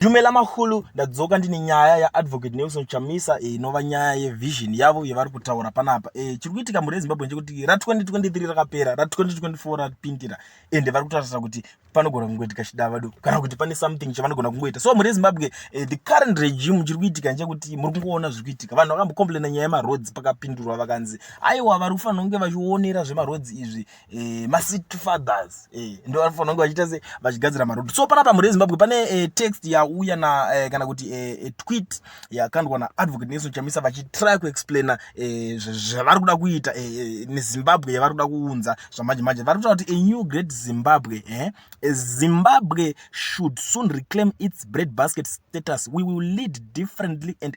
Dumela Mahulu, ndadzoka ndine nyaya yaAdvocate Nelson Chamisa eh, inova nyaya yevision yavo yevari kutaura panapa. Eh, chiri kuitika mhuri yeZimbabwe ndechekuti ra2023 rakapera, ra2024 rapindira ende vari kutarisira kuti panogona kungoitika chidavado kana kuti pane something chavanogona kungoita. So mhuri yeZimbabwe, eh, the current regime chiri kuitika ndechekuti muri kungoona zviri kuitika. Vanhu vakambocomplaina nyaya yemaroads pakapindurwa vakanzi aiwa vari kufanira kunge vachionera zvemaroads izvi eh, macity fathers eh, ndo vanofanira kunge vachiita se vachigadzira maroad so panapa mhuri yezimbabwe pane eh, text yauya na eh, kana kuti eh, eh tweet yakandwa naadvocate nelson chamisa vachitry kuexplaina eh, zvavari kuda kuita eh, eh, nezimbabwe yavari kuda kuunza zvamanje manje vari kutaura kuti a new great zimbabwe eh, eh, zimbabwe should soon reclaim its bread basket status we will lead differently and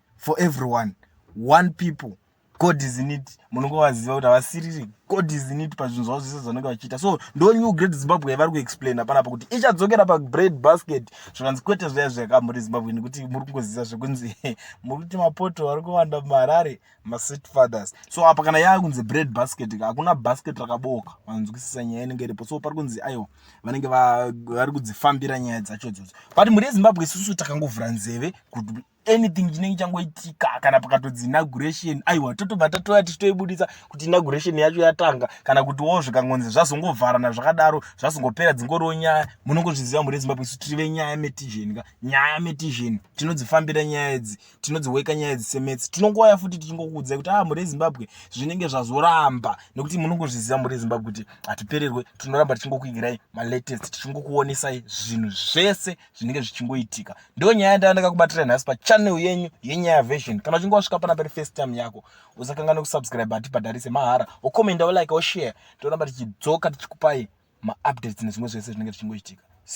for everyone one people god is in it munenge vaziva kuti havasiriri god is in it pazvinhu zvavo zvese zvanenge vachiita so ndo new great zimbabwe yavari kuexplaina panapa kuti ichadzokera pabread basket zvikanzi kwete zvaya zvakamuri zimbabwe nekuti muri kungozivisa zvekunzi muri kuti mapoto ari kuwanda muharare masweet fathers so apa kana yava kunzi bread basket hakuna basket rakabooka vanzwisisa nyaya inenge iripo so pari kunzi aiwa vanenge vari kudzifambira nyaya dzacho dzodzo but mhuri yezimbabwe isusu takangovhura nzeve kuti anything chinenge changoitika kana pakatodzi inauguration aiwa totobva tatouya tichitoibudisa kuti inauguration yacho yatanga kana kuti wo zvikangonzi zvazongovharana zvakadaro zvazongopera dzingoriwo nyaya munongozviziva mhuri yezimbabwe isu tiri venyaya metizheni ka nyaya metizheni tinodzifambira nyaya idzi tinodziweka nyaya idzi semetsi tinongouya futi tichingokuudzai kuti a ah, mhuri yezimbabwe zvinenge zvazoramba nekuti munongozviziva mhuri yezimbabwe kuti hatipererwe tinoramba tichingokuigirai malatest tichingokuonesai zvinhu zvese zvinenge zvichingoitika ndo nyaya yandava ndakakubatira nhasi pachannel yenyu yenyaya version kana uchinge wasvika pana pari first time yako usakanganwe kusubscribe hatibhadharise mahara wokomenda wolike woshare toramba tichidzoka tichikupai maupdates nezvimwe zvese zvinenge zvichingoitika